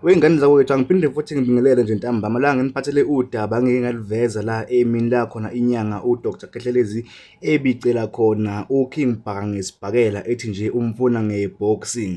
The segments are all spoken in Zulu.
Wey'ngane zakwethu angiphinde futhi ngibingelele nje ntambama la nginiphathele udaba ngeke ngaliveza la emini la khona inyanga uDr Khehlelezi ebicela khona uKing Bhaka ngesibhakela ethi nje umfuna ngeboxing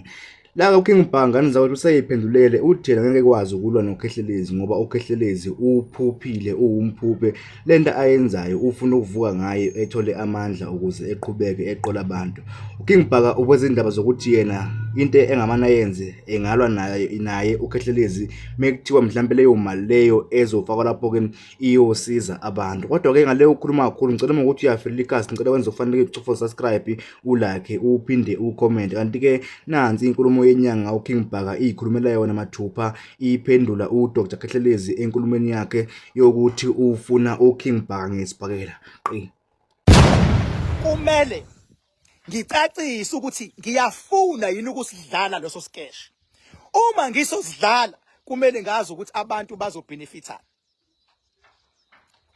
la uKing Bhaka ngane zakwethu useyiphendulele uthela ngeke kwazi ukulwa noKhehlelezi ngoba uKhehlelezi uphuphile uwumphuphe Le nto ayenzayo ufuna ukuvuka ngayo ethole amandla ukuze eqhubeke eqola abantu. UKing Bhaka ukwezindaba zokuthi yena into engamane ayenze engalwa naye naye uKhehlelezi mekuthiwa mhlawumbe leyo mali leyo ezofakwa lapho ke iyosiza abantu. Kodwa ke ngale ukhuluma kakhulu ngicela uma ukuthi uyafelela ikhasi ngicela wenze ufanele ucufa subscribe ulike uphinde ucomment kanti ke nansi inkulumo yenyanga uKing Bhaka iyikhulumela yona mathupha iphendula uDr Khehlelezi enkulumeni yakhe yokuthi ufuna uKing Bhange Sibhakela qi kumele ngicacise ukuthi ngiyafuna yini ukusidlala leso skesh uma ngisosidlala kumele ngazi ukuthi abantu bazobenefitha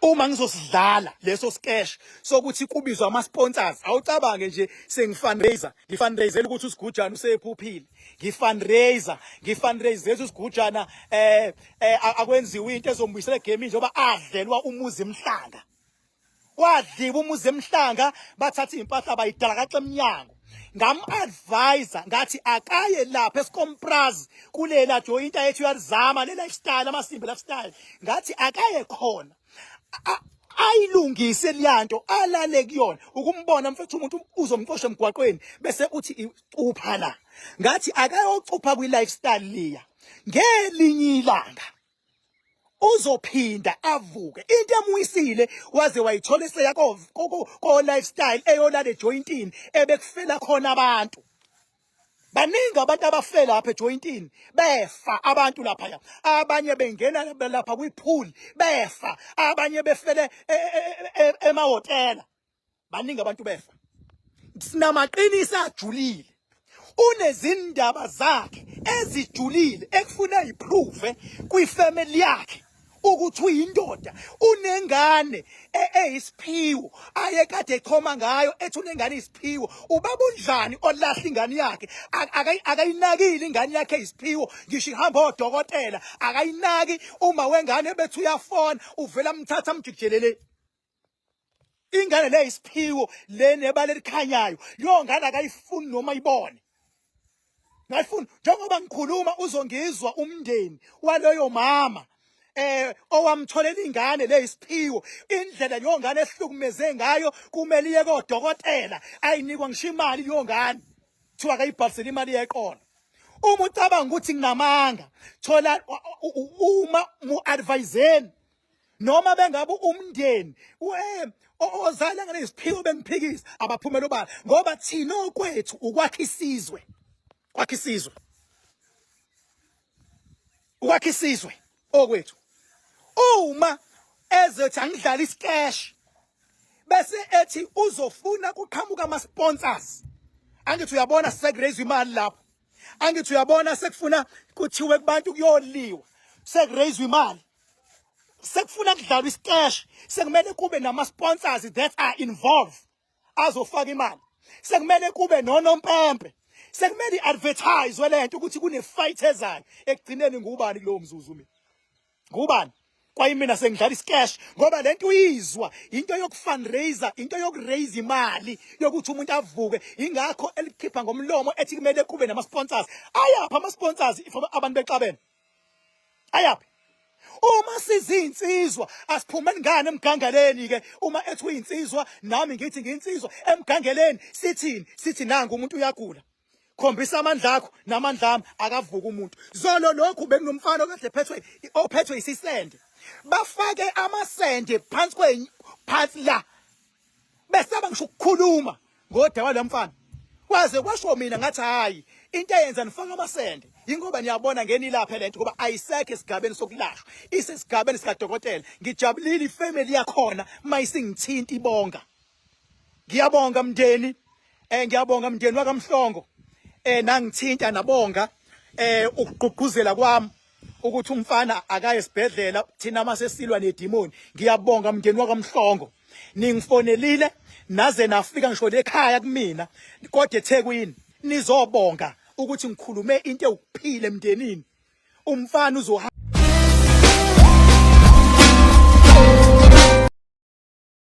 uma ngizosidlala leso skesh sokuthi kubizwa ama sponsors awucabange nje sengifundraiser ngifundraisela ukuthi usigujana usephuphile ngifundraiser ngifundraiser ukuthi usigujana eh, eh akwenziwe into ezombuyisela game njengoba adlelwa umuzi emhlanga kwadliwa umuzi emhlanga bathatha impahla bayidalakaxa emnyango ngam-advisa ngathi akaye lapha esikompraz kulela joyinta yethu uyalizama le lifestyle amasimbi lifestyle ngathi akaye khona ayilungise liyanto alale kuyona ukumbona mfethu umuntu uzomxosha emgwaqweni bese uthi icupha la ngathi akayocupha kwi lifestyle liya ngelinye ilanga uzophinda avuke into emwisile waze wayithola iseya ko ko lifestyle eyolala ejointini ebekufela khona abantu baningi abantu abafela lapha ejointini befa abantu lapha ya abanye bengena lapha kwipool befa abanye befele e, e, e, emahotela baningi abantu befa sinamaqinisi ajulile unezindaba zakhe ezijulile ekufuna iprove kwifamily yakhe ukuthi uyindoda unengane e-, eyisiphiwo aye kade echoma ngayo ethi unengane isiphiwo ubaba unjani olahla ingane yakhe akayinakile ingane yakhe isiphiwo ngisho ihamba odokotela akayinaki uma wengane bethi uyafona uvela mthatha mjikijelele ingane le isiphiwo le nebala elikhanyayo leyo ngane akayifuni noma ibone ngayifuni njengoba ngikhuluma uzongizwa umndeni waloyo mama eh owamtholela ingane leyisiphiwo indlela leyo ngane ehlukumeze ngayo kumele iye kodokotela ayinikwa ngisho imali leyo ngane kuthiwa akayibhalisele imali yeqolo uma ucabanga ukuthi nginamanga thola uma mu-adviseni noma bengabe umndeni eh, ozala ngane isiphiwo bengiphikisa abaphumela obala ngoba thina okwethu ukwakha isizwe kwakha isizwe ukwakha isizwe okwethu uma ezothi angidlala isikesh bese ethi uzofuna kuqhamuka ama sponsors angithi uyabona sekuraise imali lapho angithi uyabona sekufuna kuthiwe kubantu kuyoliwa sekuraise imali sekufuna kudlalwa isiteshi sekumele kube nama sponsors that are involved azofaka imali sekumele kube nonompempe sekumele iadvertise lento ukuthi kune fight ezayo ekugcineni ngubani kulowo mzuzu mina ngubani kwayimina sengidlala iscash ngoba lento uyizwa into yokufundraiser into yokuraise imali yokuthi umuntu avuke ingakho elikhipha ngomlomo ethi kumele kube nama sponsors ayapha ama sponsors abantu bexabene ayaphi uma sizinsizwa asiphumeni ngane emgangeleni ke uma ethi uyinsizwa nami ngithi ngiyinsizwa emgangeleni sithini sithi nangu umuntu uyagula khombisa amandla akho namandla ami akavuka umuntu zolo lokhu benginomfana okade phethwe ophethwe isisende bafake amasende phansi kwenye phansi la besaba ngisho ukukhuluma ngoda walamfana waze kwasho mina ngathi hayi into eyenza nifaka amasende yingoba niyabona ngenilaphe lento ngoba ayisekho esigabeni sokulashwa isesigabeni sikadokotela ngijabulile ifamily yakhona mayisingithinta ibonga ngiyabonga mndeni eh ngiyabonga mndeni wakamhlongo eh nangithinta nabonga eh ukugqugquzela kwami ukuthi umfana akaye esibhedlela thina masesilwa nedimoni ngiyabonga mndeni wakamhlongo ningifonelile naze nafika ngisho lekhaya kumina kodwa eThekwini nizobonga ukuthi ngikhulume into ewukuphile emndenini umfana uzo